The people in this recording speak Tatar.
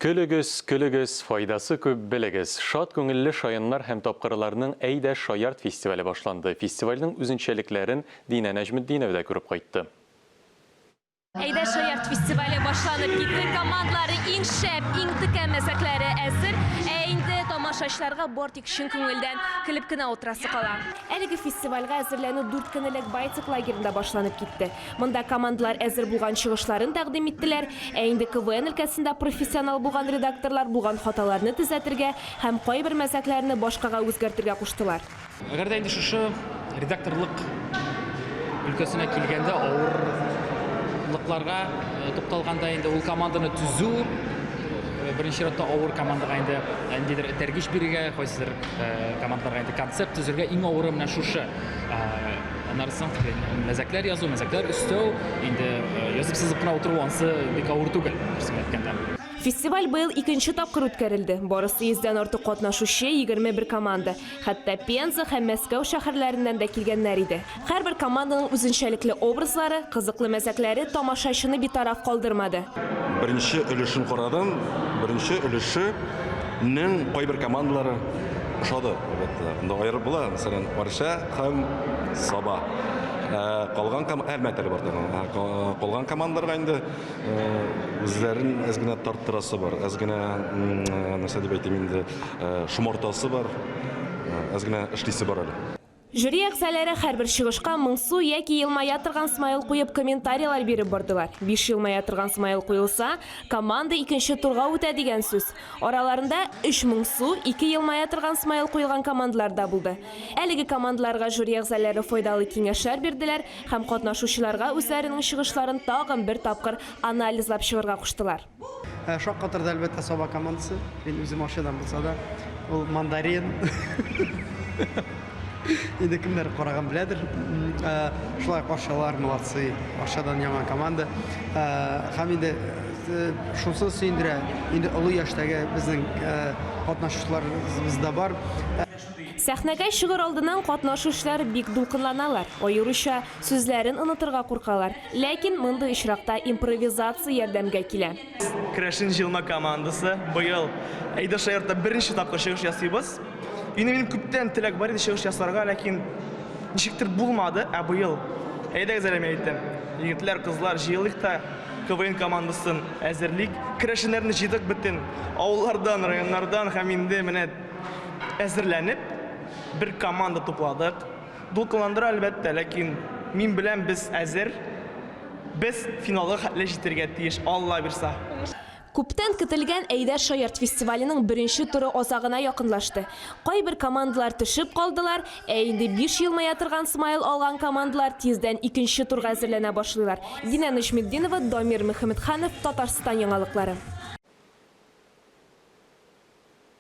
Көлегез, көлегез, файдасы күп, белегез! Шат күңелле шаяннар һәм тапкырларның Әйдә, шаярт фестивале башланды. Фестивальнең үзенчәлекләрен Динә Нәҗметдинова да күреп кайтты. Әйдә, шаярт фестивале башланып китте. Командлары иң шәп, иң текә мәзәкләре әзер. Ә инде тамашачыларга бар тик чын күңелдән көлеп кенә утырасы кала. Әлеге фестивальгә әзерләнү дүрт көн элек Байтик лагеренда башланып китте. Монда командалар әзер булган чыгышларын тәкъдим иттеләр, ә инде КВН өлкәсендә профессионал булган редакторлар булган хаталарны төзәтергә һәм кайбер мәзәкләрне башкага үзгәртергә куштылар. Әгәр дә инде шушы редакторлык өлкәсенә килгәндә авырлыкларга тукталганда, инде ул команданы төзү, беренче чиратта авыр командага инде ниндидер этәргеч бирергә, кайсыдыр командаларга инде концепт төзергә, иң авыры менә шушы. Аннары соң мәзәкләр язу, мәзәкләр өстәү, инде язып сызып кына утыру ансы бик авыр түгел, дөресен әйткәндә. Фестиваль быел икенче тапкыр үткәрелде. Барысы йөздән артык катнашучы, 21 команда. Хәтта Пенза һәм Мәскәү шәһәрләреннән дә килгәннәр иде. Һәрбер команданың үзенчәлекле образлары, кызыклы мәзәкләре тамашачыны битараф калдырмады. Беренче өлешен карадым, беренче өлешенең кайбер командалары ошады, әлбәттә. Монда аерып була, мәсәлән, Орша. Һәм Саба. Ә, калган ком... Әлмәт әле бар тагын. Ә, ка- Калган командаларга инде э, үзләрен әз генә тарттырасы бар. Әз генә, м, э, нәрсә дип әйтим инде, э, шомартасы бар. Э, Әз генә эшлисе бар әле. Жюри әгъзаләре һәрбер чыгышка моңсу яки елмая торган смайл куеп комментарийлар биреп бардылар. Биш елмая торган смайл куелса, команда икенче турга үтә дигән сүз. Араларында өч моңсу, ике елмая торган смайл куелган командалар да булды. Әлеге командаларга жюри әгъзаләре файдалы киңәшләр бирделәр һәм катнашучыларга үзләренең чыгышларын тагын бер тапкыр анализлап чыгырга куштылар. Шаккатырды, әлбәттә, Саба командасы. Мин үзем Арчадан булса да, ул мандарин. Инде кемнәр караган беләдер. Шулай каршылар молодцы. Ашадан яңа команда. Һәм инде шусы сөендерә. Инде олы яшьтәге безнең катнашучыларыбыз да бар. Сәхнәгә чыгыр алдыннан катнашучылар бик дулкынланалар, аеруча сүзләрен онытырга куркалар. Ләкин мондый очракта импровизация ярдәмгә килә. Керәшен җыелма командасы быел Әйдә шаяртта беренче тапкыр чыгыш ясыйбыз. Инде минем күптән теләк бар иде чыгыш ясарга, ләкин ничектер булмады. Ә быел әйдәгез әле мин әйтәм. Егетләр, кызлар, җыелыйк та КВН командасын әзерлик. Керәшеннәрне җыйдык бөтен авыллардан, районнардан һәм инде менә әзерләнеп бер команда тупладык. Дулкынландыра, әлбәттә, ләкин мин беләм, без әзер. Без финалга хәтле җитәргә тиеш, Алла бирса. Күптән көтелгән Әйдә шаярт фестиваленең беренче туры азагына якынлашты. Кайбер командалар төшеп калдылар, ә инде биш елмая торган смайл алган командалар тиздән икенче турга әзерләнә башлыйлар. Динә Нәҗметдинова, Дамир Мөхәммәтханов, Татарстан яңалыклары.